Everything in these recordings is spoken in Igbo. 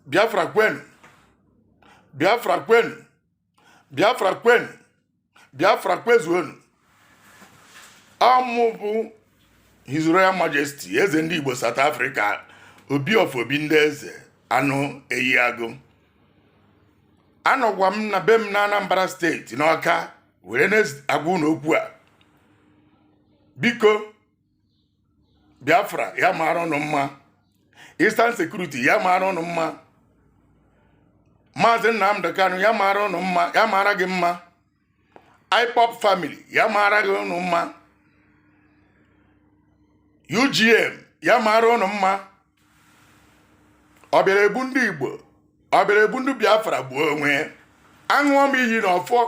biafra kwenu biafra kwenu biafra kwenu biafra kwezuonu ọ mụ bụ his royal majesty eze ndị igbo south africa obi of obi ndị eze anụ eyi agụ anọkwa m na be m na anambra steeti n'ọka were na-agwa unu okwu a biko biafra ya mara ụnụ mma eastern security ya mara ụnụ mma maazị nnamdi kanu ya mara ụnụ mma ya mara gị mma ipob family ya mara gị ụnụ mma ugm ya mara ụnụ mma ọ bịara egbu ndị igbo ọ bịara egbu ndị biafra gbuo onwe ya aṅụọ m iyi na ọfọ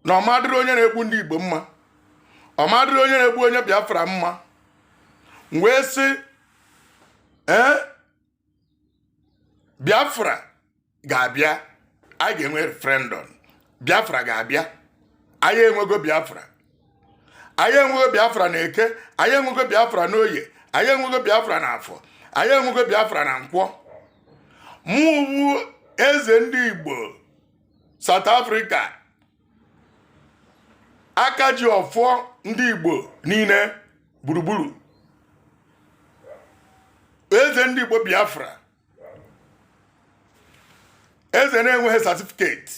na ọ ma-adịrị onye na-egbu ndị igbo mma ọ ma-adịrị onye na-egbu onye biafra mma m wee sị ee biafra ga-abịa anyị ga-enwe referendum biafra ga-abịa anyị enwego biafra anyị enwego biafra na eke anyị enwego biafra na oye anyị enwego biafra na afọ anyị enwego biafra na nkwọ mụ bụ eze ndị igbo south africa aka ji ọfọ ndị Igbo niile gburugburu eze ndị Igbo Biafra eze na-enweghị satifiketi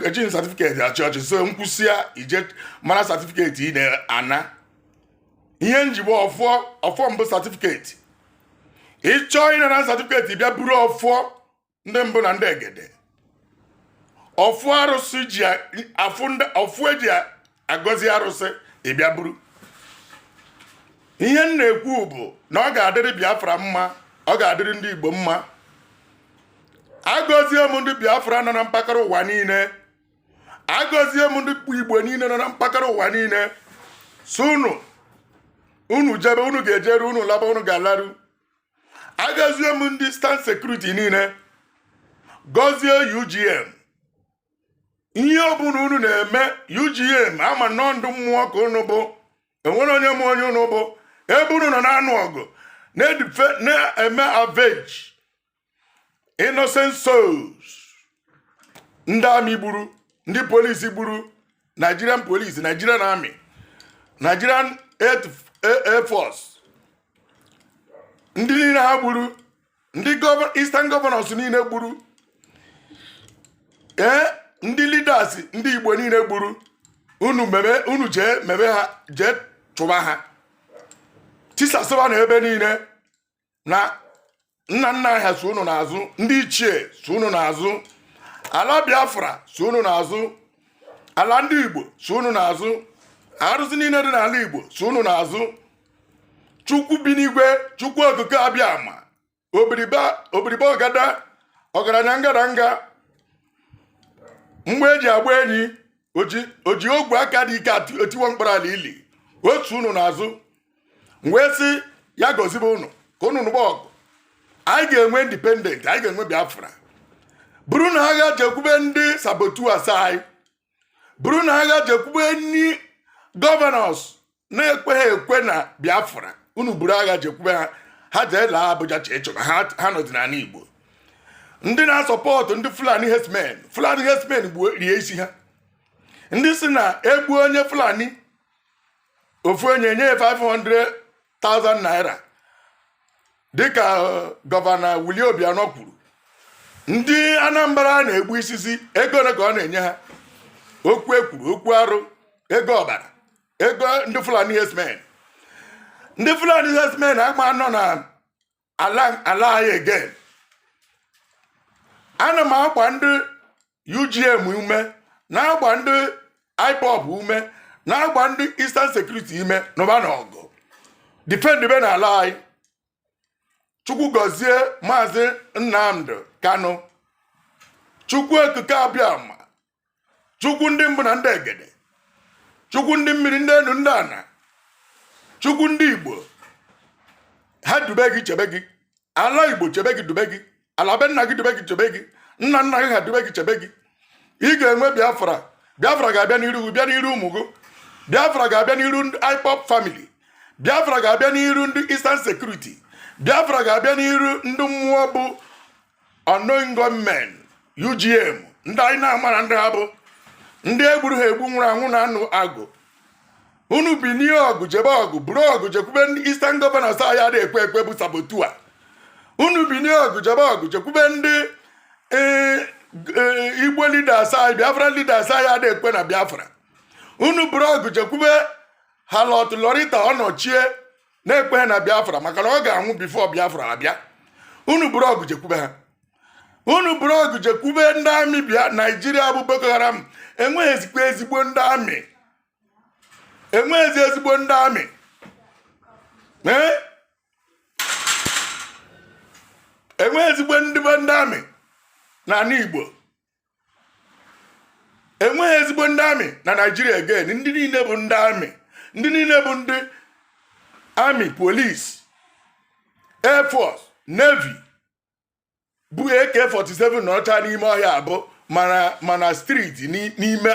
ejighị satifiketi achị ọchị so m kwusịa ị je mara satifiketi ị na-ana ihe m ji bụ ọfọ ọfọ m bụ satifiketi ị chọọ ịnara satifiketi bịa buru ọfọ ndị mbụ na ndị egede ọfọ arụsị ji ọfọ e ji agọzi arụsị ị bịa buru ihe m na-ekwu bụ na ọ ga-adịrị Biafra mma ọ ga-adịrị ndị Igbo mma agọzie m ndị Biafra nọ na mpaghara ụwa niile agọzie m ndị Igbo niile nọ na mpaghara ụwa niile so unu unu jebe unu ga-ejeru unu laba unu ga-alaru agọzie m ndị eastern security niile gọzie UGM ihe ọbụla unu na-eme UGM ama m na ọ ndị mmụọ ka unu bụ o nwerọ onye ma onye unu bụ ebe unu nọ na-anụ ọgụ na-eme avenge innocent souls ndị amị gburu ndị polisi gburu nigerian police nigerian army nigerian air force ndị niile ha gburu ndị eastern governors niile gburu ee ndị leaders ndị igbo niile gburu unu mebe unu jee mebe ha jee chụba ha tisasịba na ebe niile na nna nna ha so unu n'azụ ndị ichie so unu n'azụ ala biafra so unu n'azụ ala ndị igbo so unu n'azụ arụsị niile dị n'ala igbo so unu n'azụ chukwu bi n'igwe chukwu okike abịama obiribe ọgada ọgaranya ngadanga mgbọ eji agba enyi oji ogwe aka dị ike etiwa mkpara ala ili o so unu n'azụ m wee sị ya gọzibe unu ka unu nụba ọgụ anyị ga-enwe independent anyị ga-enwe biafra burunụ agha jekwube ndị saboteurs anyị burunụ agha jekwube ndị governors na-ekweghị ekwe na biafra unu buru agha jekwube ha ha jee laa abuja chee chọba ha nọzi n'ala igbo ndị na-asọpọtụ ndị fulani herdsmen fulani herdsmen gbuo rie isi ha ndị si na egbuo onye fulani ofu onye nye 500,000 naira dịka eh, gọvanọ Willie Obiano kwuru ndị Anambra na-egbu isisi ego ole ka ọ na-enye ha okwu ekwuru okwu arụ ego ọbara ego ndị Fulani herdsmen ndị Fulani herdsmen ama nọ na ala anyị again ana m agba ndị UGM ume na-agba ndị IPOB ume na-agba ndị Eastern Security ume nụbanụ ọgụ defend benụ ala anyị chukwu gọzie maazị nnamdi kanu chukwu okike abịama chukwu ndị mbụ na ndị egede chukwu ndị mmiri ndị enu ndị ana chukwu ndị igbo ha dube gị chebe gị ala igbo chebe gị dube gị ala be nna gị dube gị chebe gị nna nna gị ha dube gị chebe gị ị ga-enwe biafra biafra ga-abịa n'iru gị bịa n'iru ụmụ gị biafra ga-abịa n'iru ndị ipob family biafra ga-abịa n'iru ndị eastern security biafra ga-abịa n'iru ndị mmụọ bụ unknown gunmen UGM ndị anyị na-amarọ ndị ha bụ ndị egburu ha egbu nwụrụ anwụ na-anụ ọgụ unu binie ọgụ jebe ọgụ buru ọgụ jekwube ndị Eastern Governors anyị adị ekwe ekwe bụ saboteur unu binie ọgụ jebe ọgụ jekwube ndị e, e, Igbo leaders anyị Biafra leaders anyị adị ekwe na Biafra unu buru ọgụ jekwube harlot Lauretta Onochie na-ekweghị na biafra maka na ọ ga-anwụ bifo biafra abịa unu buru ọgụ jekwube ha unu buru ọgụ jekwube ndị amị bịa naijiria bụ boko haram enweghịzikwa ezigbo ndị amị enweghịzi ezigbo ndị amị ee enweghị ezigbo ndị be ndị amị n'ala igbo enweghị ezigbo ndị amị na naijiria again ndị niile bụ ndị amị ndị niile bụ ndị amị polisi air force navy bu ak-47 nọcha n'ime ọhịa abụ ma na ma na streeti n'ime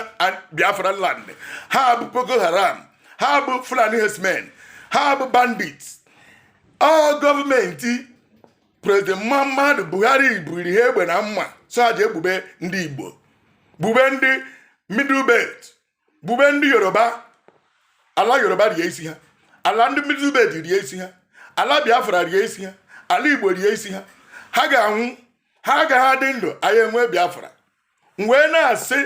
biafra land ha bụ boko haram ha bụ fulani herdsmen ha bụ bandits ọ gọọmenti prezident Muhammadu Buhari bunyere ha egbe na mma sị ha jee gbube ndị Igbo gbube ndị middle belt gbube ndị Yoruba ala Yoruba rie isi ha ala ndị middle belt rie isi ha ala Biafra rie isi ha ala Igbo rie isi ha ha ga-anwụ ha agaghị adị ndụ anyị enwe Biafra m wee na-asị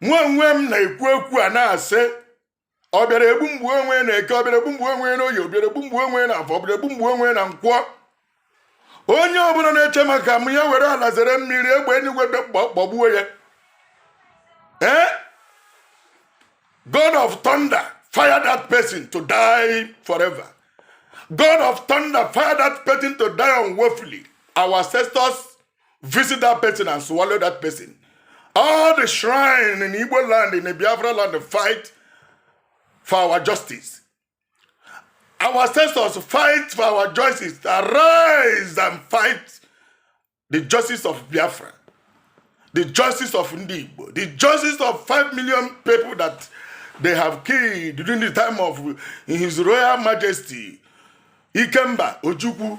nwa onwe m na-ekwu okwu a na-asị ọ bịara egbu m gbuo onwe na eke ọ bịara egbu m gbuo onwe na oye ọ bịara egbu m gbuo onwe na afọ ọ bịara egbu m gbuo onwe na nkwọ onye ọbụla na-eche maka m ya were ala zere mmiri egbe enigwe gbagbuo ya ee eh? god of thunder fire that person to die forever god of thunder fire that person to die unwoefully our ancestors visit that person and swallow that person all the shrine in igbo land in the biafra land fight for our justice our ancestors fight for our justice arise and fight the justice of biafra the justice of Ndi Igbo, the justice of 5 million people that they have killed during the time of His Royal Majesty Ikemba Ojukwu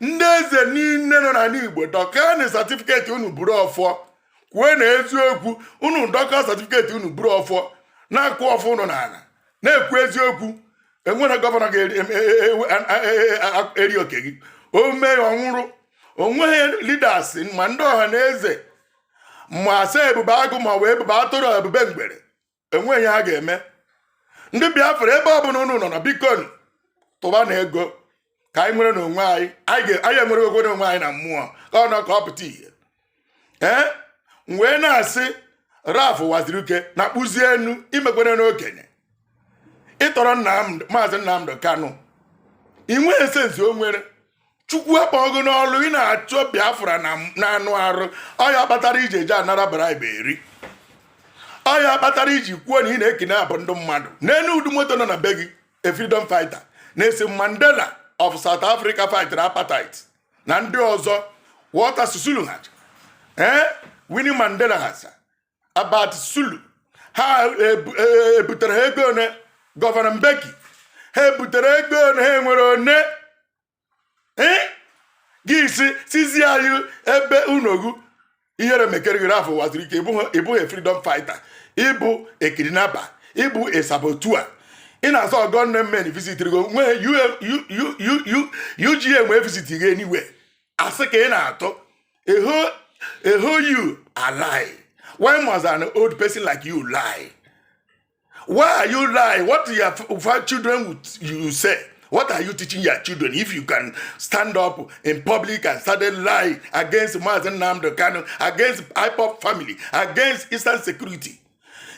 ndị eze niile nọ n'ala igbo dọkaanụ satifiketi unu buru ọfọ kwue na eziokwu unu dọkaa satifiketi unu buru ọfọ na-akụ ọfọ unu n'ala na-ekwu eziokwu enwere gọvanọ ga-eri oke gị o mee ya ọ nwụrụ onweghị lidas ma ndị ọha na eze ma a sị ebube agụ ma ọ bụ ebube atụrụ ebube mgbere enweghị ihe ha ga-eme ndị biafra ebe ọ bụla unu nọ na biko tụbanụ ego ka anyị nwere n'onwe anyị anyị enwerego n'onwe anyị na mmụọ ka ọ nọ ka ọ pụta ihe ee m wee na-asị ralph uwazuruike na kpụzie enu imekwere n'okenye ị tọrọ maazị nnamdị kanụ i nweghị sensi o nwere chukwu akpọọ gị n'ọlụ ị na-achọ biafra n'anụ arụ ọ ya kpatara i ji eje anara bribe eri ọ ya kpatara i ji kwuo na ị na-ekene abụ ndị mmadụ leenụ ụdị moto nọ na be gị a freedom fighter nelson mandela of south africa fightịrị apartheid na ndị ọzọ walter sisulu ha ee eh? winnie mandela hasa about sulu ha ebutere e, e ha ego one Govan Mbeki ha ebutere ego one ha nwere one gị isi sizi anyị ebe unogu ihere mekere gị Ralph Uwazuruike ị bụghị freedom fighter ị bụ a kidnapper ị bụ a saboteur ị na-asọ gunmen visit gị wee UGM wee visit gị anywhere asị ka ị na-atụ eho you are lie why must an old person like you lie why are you lie what do your children would you say What are you teaching your children if you can stand up in public and start a lie against Mazen Namdo Kano, against IPOP family, against Eastern security?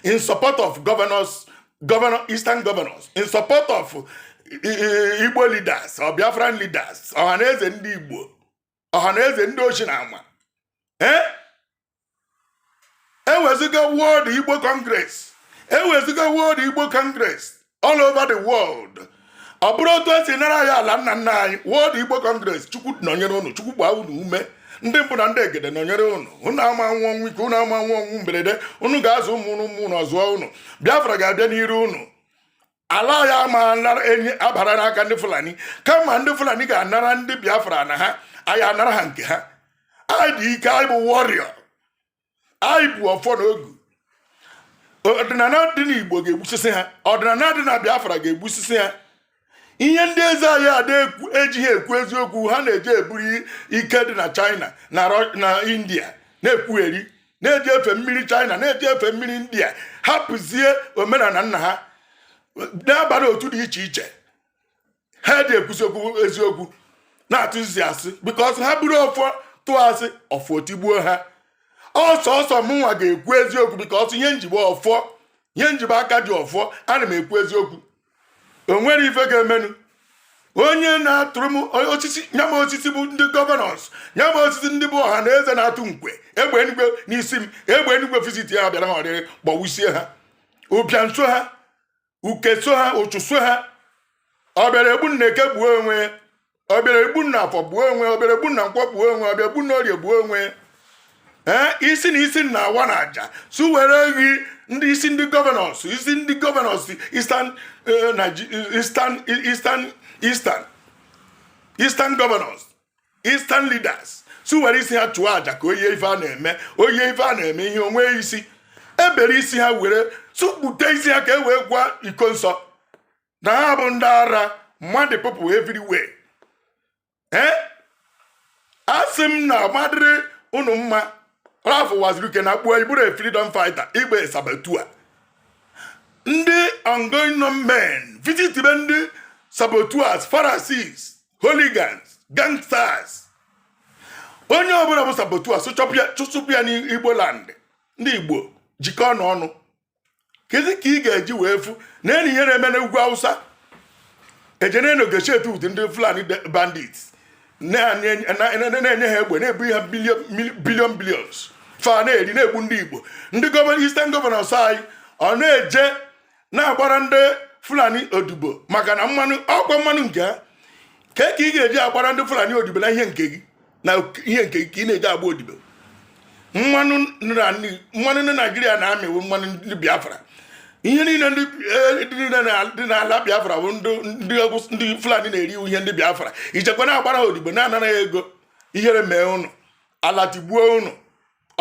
in support of governors, governor, eastern governors, in support of uh, Igbo leaders or Biafran leaders, Ohaneze ndị Igbo, Ohaneze ndị oshi na ama. Eh? Ewezuga World Igbo Congress, ewezuga World Igbo Congress, all over the world ọ bụrụ otu e si nara anyị ala nna nna anyị World Igbo Congress chukwu nọnyere ụnụ chukwu gbaa unu ume ndị mbụ na ndị egede nọnyere ụnụ ụnụ ama anwụ ọnwụ ike ụnụ ama anwụ ọnwụ mberede ụnụ ga-azụ ụmụ ụnụ ụmụ ụnụ azụọ ụnụ Biafra ga-abịa n'iru ụnụ ala anyị ama enyi abara n'aka ndị Fulani kama ndị Fulani ga-anara ndị Biafra ala ha anyị anara ha nke ha anyị dị ike anyị bụ warrior anyị bụ ọfọ na ogu ọdịnala dị n'igbo ga-egbusisi ha ọdịnala dị na biafra ga-egbusisi ha ihe ndị eze anyị ada ejighị ekwu eziokwu ha na-eji eburu ike dị na china na india na-ekwugheri na-eji efe mmiri china na-eji efe mmiri india hapụzie omenala nna ha na-abara otu dị iche iche ha adị ekwuzi okwu eziokwu na-atụzi asị because ha buru ọfọ tụọ asị ọfọ tigbuo ha ọsọ ọsọ mụnwa ga-ekwu eziokwu because ihe m ji bụ ọfọ ihe m ji bụ aka ji ọfọ ana m ekwu eziokwu o nwere ife ga-emenụ onye na-atụrụ m osisi nye m osisi bụ ndị governors nye m osisi ndị bụ Ohaneze na-atụ nkwe egbe enugwe n'isi m egbe enugwe visit ya bịara ha ọrịrị gbagbusie ha ụbịam so ha uke so ha ụchụ so ha ọbịara egbu m na eke gbuo onwe ọbịara egbu m na afọ gbuo onwe ọbịara egbu m na nkwọ gbuo onwe ọbịara egbu m na orie gbuo onwe ee isi na isi na awa na aja su were ghi ndị isi ndị governors isi ndị governors eastern eh, Nige- eastern eastern eastern eastern governors eastern leaders si were isi ha chụọ aja ka oye ife a na-eme oye ife a na-eme ihe onwe isi e bere isi ha were tụkpute isi ha ka e wee gwa Ikonso na ha bụ ndị ara mad people everywhere ee eh? a sị m na ọ ma adịrị ụnụ mma Ralph Uwazuruike na kpuo ị bụrọ a freedom fighter ị bụ a saboteur ndị unknown gunmen visit be ndị saboteurs pharisees hooligans gangsters onye ọbụla bụ saboteur chụsụpụ ya n'igbo land ndị igbo jikọọ na ọnụ kezi ka ị ga-eji wee fụ n'anya ihe na-eme n'ugwu awụsa eje na-negotiate with ndị fulani bandit na-enye ha egbe na-ebu ha billion billions fa na-eri na-egbu ndị igbo ndị gọvanọ eastern governors anyị ọ na-eje na-agbara ndị fulani odibo maka na mmanụ ọkwa mmanụ nke a kee ka ị ga-eji agbara ndị fulani odibo na ihe nke gị na ihe nke gị ka ị na-eji agba odibo mmanụ ndị naijiria na-amị wụ mmanụ ndị biafra ihe niile ndị e, dị n'ala biafra bụ ndị fulani na-eri wụ ihe ndị biafra ị jekwa na-agbara ha odibo na-anara ego ihere mee ụnụ ala tigbuo ụnụ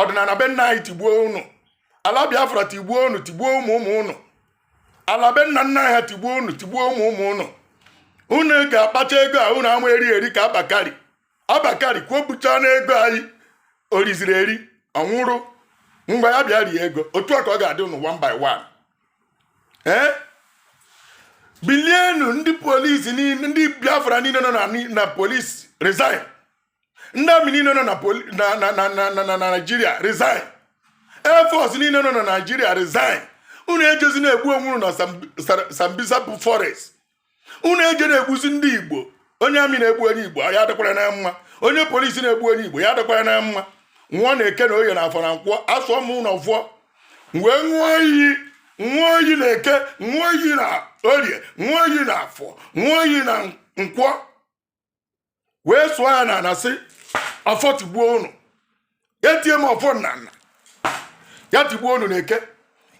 ọdịnala be nna anyị tigbuo ụnụ ala biafra tigbuo ụnụ tigbuo ụmụ ụmụ ụnụ ala be nna nna ha tigbuo ụnụ tigbuo ụmụ ụmụ ụnụ unu ga-akpata ego a unu ama eri eri ka abba kyari abba kyari kwopụta n'ego anyị o riziri eri ọ nwụrụ mgbe ya bịa rie ego otu a ka ọ ga-adị ụnụ one by one ee bilienụ ndị police niile ndị biafra niile nọ na police resign ndị army niile nọ na naijiria resign air force niile nọ na naijiria resign unu ejezi na-egbu onwe unu na sambisa bụ forest unu eje na-egbuzi ndị igbo onye army na-egbu onye igbo ya adịkwara na mma onye police na-egbu onye igbo ya adịkwara na mma nwa na eke na oye na afọ na nkwọ asụọ m ụnụ ọfọ wee ṅụọ iyi ṅụọ iyi na eke ṅụọ iyi na orie ṅụọ iyi na afọ ṅụọ iyi na nkwọ wee sụọ ya na ana sị ọfọ tigbuo ụnụ etie m ọfọ na ana ya tigbuo ụnụ na eke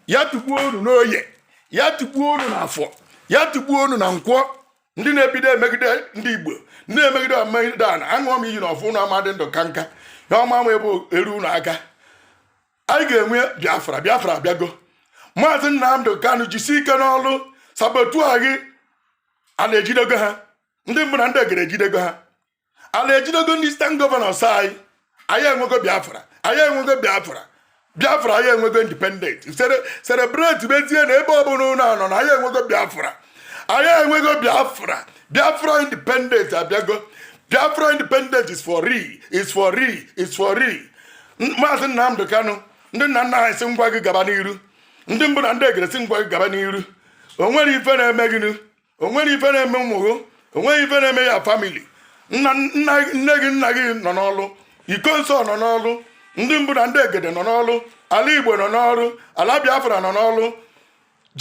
ya tigbuo ụnụ n'oye ya tigbuo ụnụ na afọ ya tigbuo ụnụ na nkwọ ndị na-ebido emegide ndị igbo ndị na-emegide emegide ana aṅụọ m iyi na ọfọ ụnụ ama adị ndụ ka nka ya ọma m ebe eru ụnụ aka anyị ga-enwe biafra biafra abịago maazị nnamdị kanu jisi ike n'ọlụ saboteur gị ana ejidego ha ndị mbụ na ndị egere ejidego ha ala ejidego ndị eastern governors anyị anyị enwego biafra anyị enwego biafra biafra anyị enwego independent celebrate bezie na ebe ọbụla ụnụ nọ na anyị enwego biafra anyị enwego biafra biafra independent abịago biafra independent is for real is for real is for real maazị nnamdị kanụ ndị nna nna anyị sị m gwa gị gaba n'iru ndị mbụ na ndị egere sị m gwa gị gaba n'iru o nwere ife na-eme gịnụ o nwere ife na-eme ụmụ gị o nweghị ife na-eme your family nne gị nna gị nọ n'ọlụ iko nsọ nọ n'ọlụ ndị mbụ na ndị egede nọ n'ọlụ ala igbo nọ n'ọlụ ala biafra nọ n'ọlụ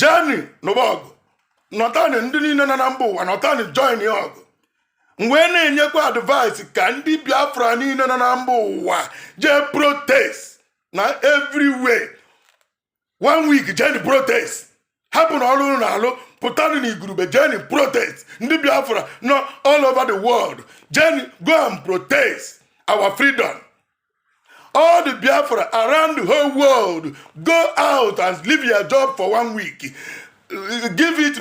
jeni nụba ọgụ nọtani ndị niile nọ na mba ụwa nọtani join ya ọgụ m wee na-enyekwa advice ka ndị biafra niile nọ na mba ụwa jee protest na everywhere one week jeni protest hapụ na ọrụ na alụ pụtanụ na igurube jeni protest ndị biafra nọ all over the world jeni go and protest our freedom all the biafra around the whole world go out and leave your job for one week give it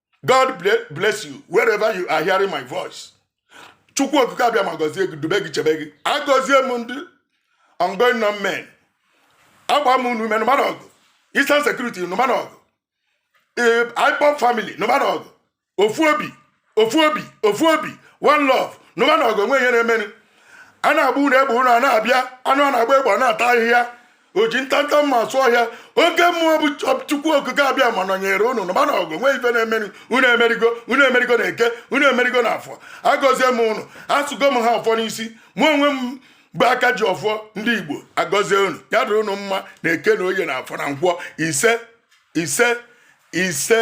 god bless you wherever you are hearing my voice chukwu okike abịama gọzie gị dube gị chebe gị agọzie m ndị ungun known men agba m unu ume nụmanụ ọgụ eastern security nụmanụ ọgụ ipob family nụmanụ ọgụ ofu obi ofu obi ofu obi one love nụmanụ ọgụ enwe ihe na-eme unu a na-agba unu egbe unu a na-abịa anụ a na-agba egbe ọ na-ata ahịhịa o ji ntanta mma asụ ọhịa oke mmụọ bụ chukwu okike abịama nọnyere unu nụbanụ ọgụ nwee ife na-emeri unu emerigo unu emerigo na eke unu emerigo na afọ agọzie m unu asụgo m ha ọfọ n'isi mụ onwe m bụ aka ji ọfọ ndị igbo agọzie unu ya dịrị unu mma na eke na oye na afọ na nkwọ ise ise ise